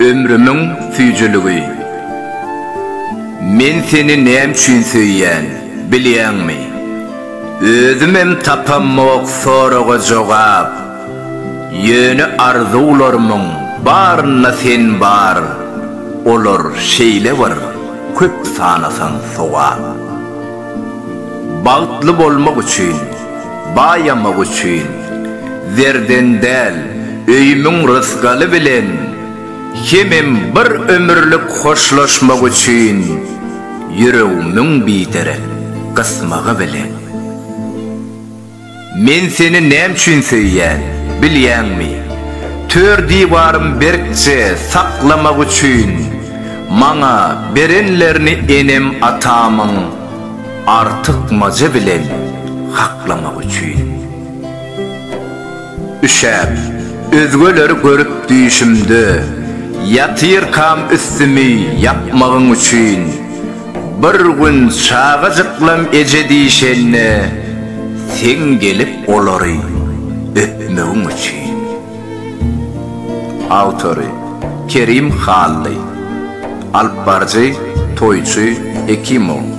Ömrümiň süýjüligi. Men seni näme üçin söýýän, bilýäňmi? Özümem tapamok soraga jogap. Ýöne arzuwlarymyň barynda sen bar, olar şeýle bir köp sanasaň sogap. Bagtly bolmak üçin. Baýamak üçin, zerden däl, öýümiň rysgaly bilen hemem bir ömürlik hoşlaşmak üçin ýüregimiň biderek gysmagy bilen. Men seni näme üçin söýýän, bilýäňmi? Tör diwarym berkje saklamak üçin, maňa berenlerini enem-atamyň, Artykmaja bilen haklamak üçin. Üşäp, özgeleri görüp düýşümde, Ýatyrkam üstümi ýapmagyň üçin. Bir gün çagajyklam eje diýşende, Seň gelip olary öpmegiň üçin. Awtory, Kerim Hally. Alyp baryjy, Toýçy Hekimow.